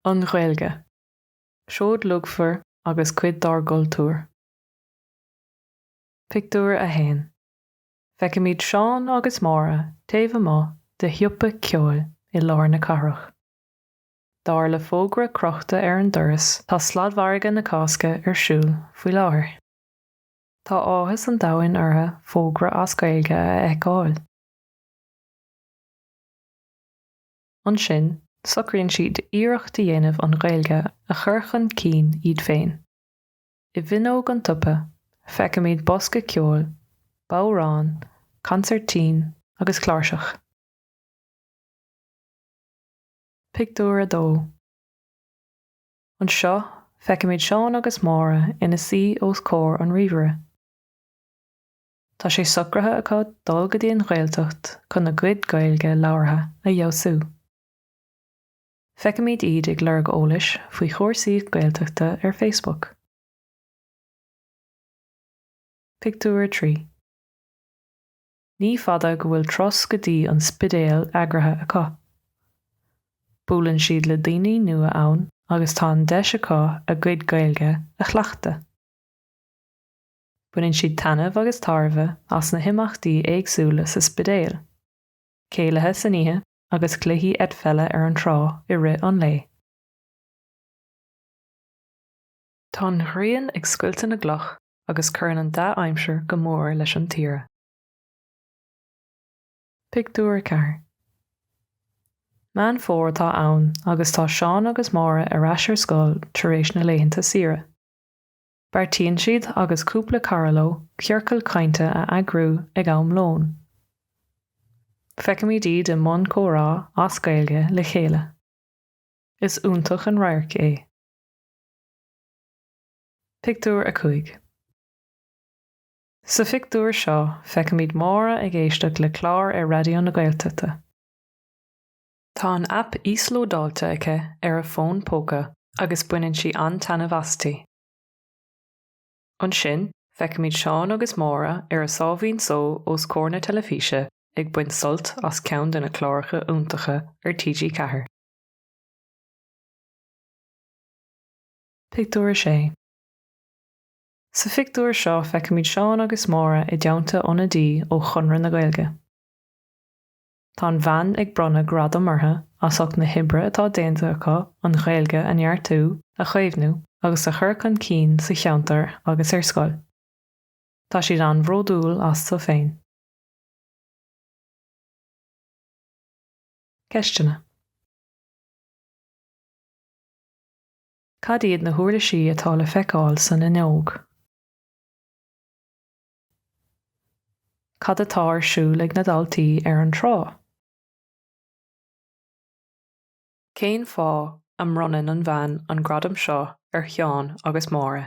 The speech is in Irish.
An Ghaeilge, Seoid luachmhar agus cuid dár gcultúr. Pictiúr 1 Feicimid Seán agus Máire taobh amuigh de shiopa ceoil i lár na cathrach. Dar le fógra crochta ar an doras, tá Sladmhargadh na Cásca ar siúl faoi láthair. Tá áthas an domhain orthu fógra as Gaeilge a fheiceáil. Ansin, socraíonn siad iarracht a dhéanamh an Ghaeilge a chur chun cinn iad féin. I bhfuinneog an tsiopa, feicimid bosca ceoil, bodhrán, consairtín agus cláirseach. Pictiúr 2. Anseo, feicimid Seán agus Máire ina suí os comhair an ríomhaire. Tá sé socraithe acu dul go dtí an Ghaeltacht chun a gcuid Gaeilge labhartha a fheabhsú. Feicimid iad ag lorg eolais faoi chúrsaí Gaeltachta ar Facebook. Pictiúr 3. Ní fada go bhfuil turas go dtí an Spidéal eagraithe acu. Buaileann siad le daoine nua ann agus tá an deis acu a gcuid Gaeilge a chleachtadh. Baineann siad taitneamh agus tairbhe as na himeachtaí éagsúla sa Spidéal, céilithe san oíche agus cluichí eitpheile ar an trá i rith an lae. Tá an ghrian ag scoilteadh na gcloch. agus cuireann an dea-aimsir go mór leis an tsaoire. Pictiúr 4 Meán Fómhair atá ann agus tá Seán agus Máire ar ais ar scoil tar éis na laethanta saoire. Beartaíonn siad agus cúpla cara leo ciorcal cainte a eagrú ag am lóin. Feicimid iad i mbun comhrá as Gaeilge le chéile. Is iontach an radharc é. Pictiúr 5 Sa phictiúr seo feicimid Máire ag éisteacht le clár ar Raidió na Gaeltachta. Tá an aip íoslódáilte aici ar a fón póca agus baineann sí an-taitneamh asti. Ansin feicimid Seán agus Máire ar a sáimhín só os comhair na teilifíse ag baint sult as ceann de na cláracha iontacha ar TG4. Pictiúr 6 Sa phictiúr seo feicimid Seán agus Máire i dteannta ionadaí ó Chonradh na Gaeilge. Tá an bhean ag bronnadh gradaim orthu as ucht na hoibre atá déanta acu an Ghaeilge a neartú, a chaomhnú agus a chur chun cinn sa cheantar agus ar scoil. Tá siad an-bhródúil astu féin. Ceisteanna. Cad iad na huirlisí atá le feiceáil san fhuinneog? Cad atá ar siúl ag na daltaí ar an trá? Cén fáth a mbronnann an bhean an gradam seo ar Sheán agus Máire?